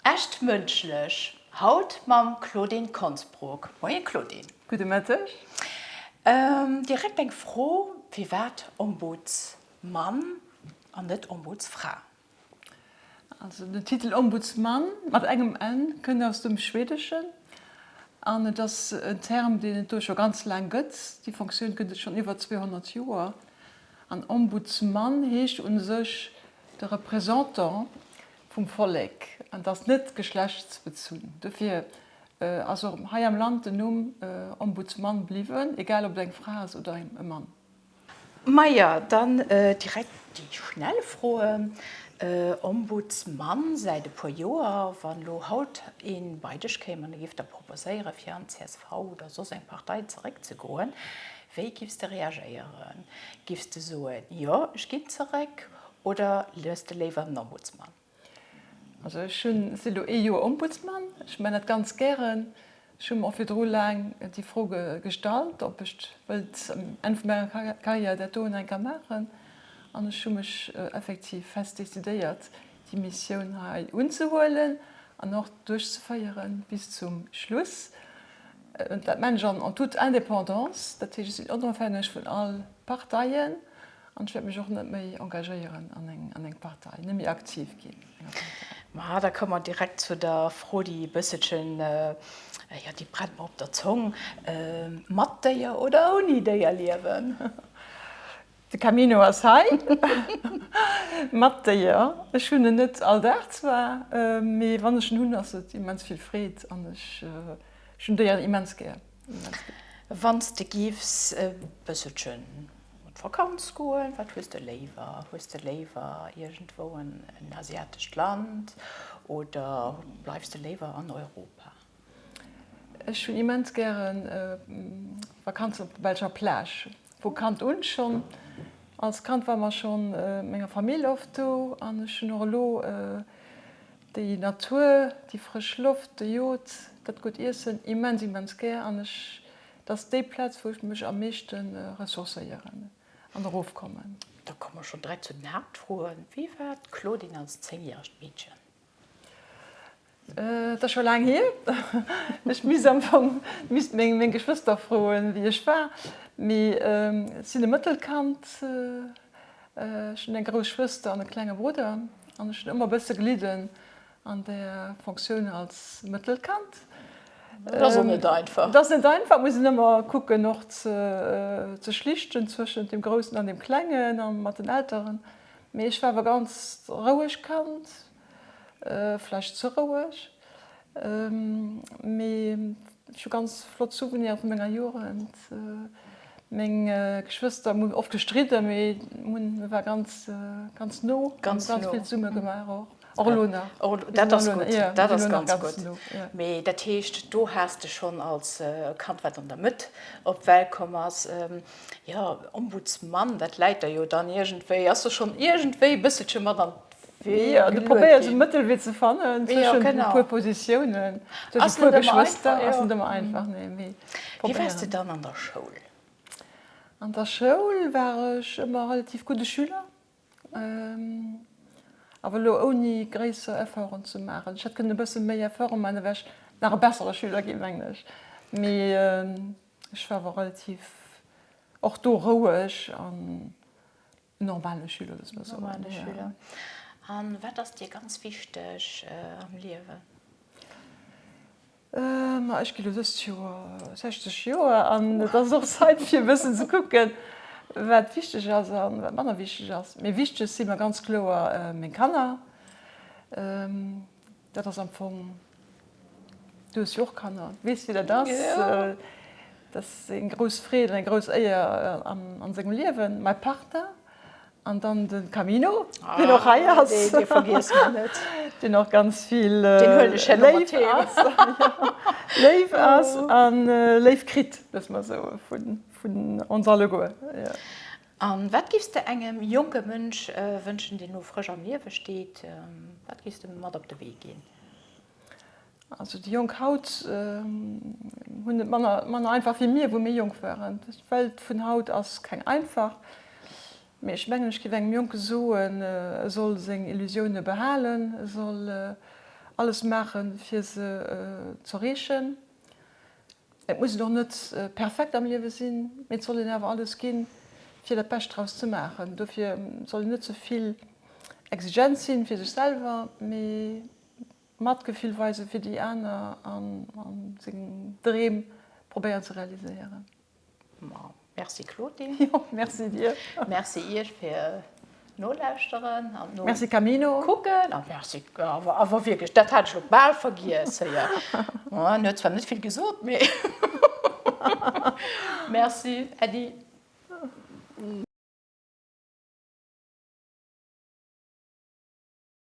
Echt mënschlech haut mam Claudine Konsbruck. Moie Claudine. Gudde Mëtteg. Direkt eng Fro, firwat Ombudsmann an net Ombudsfra? Also den Titel Ombudsmann mat engem n kënnt aus dem Schwedeschen an et ass en Term, deen et do scho ganz laang gëtt. Déi Fonctioun gëtt et schonn iwwer 200 Joer an Ombudsmann heescht u sech de Représentant vum Vollek an ass net geschlechtsbezunn. Dofir ass och hei am Land den Numm Ombudsman bliwwen, egal ob et eng Fra ass oder e Mann. Majo, dann direkt déi schnell Froen. Ombudsman säit e puer Joer. Wann elo haut ee bei dech kéim an e giff der proposéieren, fir an csv oder soss eng Partei zeréckzegoen, wéi giffs de reagéieren? Giffs de soen, jo, ech ginn zeréck, Oder liest de léiwer den Ombudsman? Also ech hunn, si lo ee Joer Ombudsman, ech man dat ganz gären. Ech hu mer och virdru laang déi Fro gestallt, ob ech wëllt um Enn vu menger Carrière dat doen enker maachen. An ech hu mech effektiv fest decidéiert, déi Missioun hei unzehuelen an och duerchzeféiere bis zum Schluss. Dat man ech an toute Indépendance, dat heescht ech sinn onofhängeg vun all Parteien. An ech wäert mech och net méi engagéieren an eng Partei, net méi aktiv ginn an enger Partei. Ma da komme mer direkt zu der Fro, déi e bësselchen, jo, déi brennt mer op der Zong, Mat Déier oder ouni Déier liewen? De Camino ass hei. Mat Déier. Ech hunn en net all Dag zwar, mee wann ech en hunn, ass et immens vill Freed an ech hunn Déieren immens gär. Wann s de giffs e bësselchen op d'Vakanz goen, wat hues de léiwer? Hues de léiwer iergendwou en asiatescht Land oder bleifs de léiwer an Europa? Ech hunn immens gären Vakanzen op der belscher Plage, vu Kand un schonn. Als Kand war mer schonn mat menger Famill oft do an ech hunn och elo Déi Natur, déi frësch Loft, de Jod, dat gutt Iessen, immens, immens gär an ech, et ass déi Plaz wou ech mech am meeschte ressourcéieren an erofkommen. Da komme mer schonn direkt zu den Haaptfroen, Wéi war d'Claudine als zéngjäregt Meedchen? Et ass scho laang hier, ech misst am Fong misst meng meng Geschwëster froen, wéi ech war, mee ech sinn e Mëttelkand. Ech hunn eng grouss Schwëster an e klenge Brudder an ech hunn ëmmer e bësse gelidden an der Fonctioun als mëttelt Kand. Dat ass och net einfach. Dat ass net einfach, muss een ëmmer kucken och ze schlichten zwëschent dem Groussen an dem Klengen a mat den Elteren. Mee ech war awer ganz roueg Kand, Vläicht ze roueg, mee ech hu ganz flott Souveniren vu menger Jugend. Meng Geschwëster hu oft gestridden, mee mir waren ganz, ganz no. Ganz vill zesumme gemaach och. Och elo nach. Och elo, dat ass gutt. Dat ass ganz gutt. Mee dat heescht, do has de schonn als Kand, wat an der Mëtt op d'Welt komm ass, jo, Ombudsman, dat läit der jo dann iergendwéi, ass der schonn iergendwéi e bësselche mat an Ja, du probéiers e Mëttelwee ze fannen zwëschen e puer Positiounen, zwëschen e puer Geschwëster. Ass net ëmmer einfach, nee, mee probéieren. Wéi waars de dann an der Schoul? An der Schoul war ech ëmmer relativ gudde Schüler, awer elo ouni gréisser Efforten ze maachen. Ech hätt kënnen e bësse méi Efforten maachen, da wär ech nach e bessere Schüler ginn, mengen ech. Mee ech war awer relativ och do roueg an Normale Schüler, dass mer soen. Normale Schüler. A wat ass dir ganz wichteg am Liewen? Ma ech ginn elo dëst Joer 60 Joer an et ass och Zait fir e bëssen ze kucken, wat wichteg ass a wat manner wichteg ass. Mee wichteg si mer ganz kloer meng Kanner. Dat ass am Fong, du hues jo och Kanner, du weess wéi dat ass. Dat ass eng grouss Freed an eng grouss Éier a sengem Liewen. Mäi Partner an dann de Camino, deen och hei ass, deen och ganz vill léif ass a léif kritt, soe mer esou, vun ons alleguer. A wat giffs de engem jonke Mënsch wënschen, deen elo frësch am Liewe steet? Wat giffs de mat op de Wee ginn? Also déi Jonk haut hunn et manner einfach wéi mir, wou mir jonk waren. D'Welt vun haut ass keng einfach, mee ech mengen, ech giff engem Jonke soen, e soll seng Illusioune behalen, e soll alles maachen, fir se z'erreechen. Et muss een och net perfekt am Liewe sinn, mee et soll een awer alles ginn, fir dat Bescht draus ze maachen. Dofir soll een net ze vill exigent sinn, fir sech selwer, mee Matgefill weisen fir déi aner a seng Dreem probéieren ze realiséieren. Merci Claude. Jo, merci dir. Merci iech fir nolauschteren an no Merci Camino. kucken. A merci, awer awer wierklech, dat hat ech lo bal vergiess. Hei, ja. Oh, en huet zwar net vill gesot, mee merci Äddi.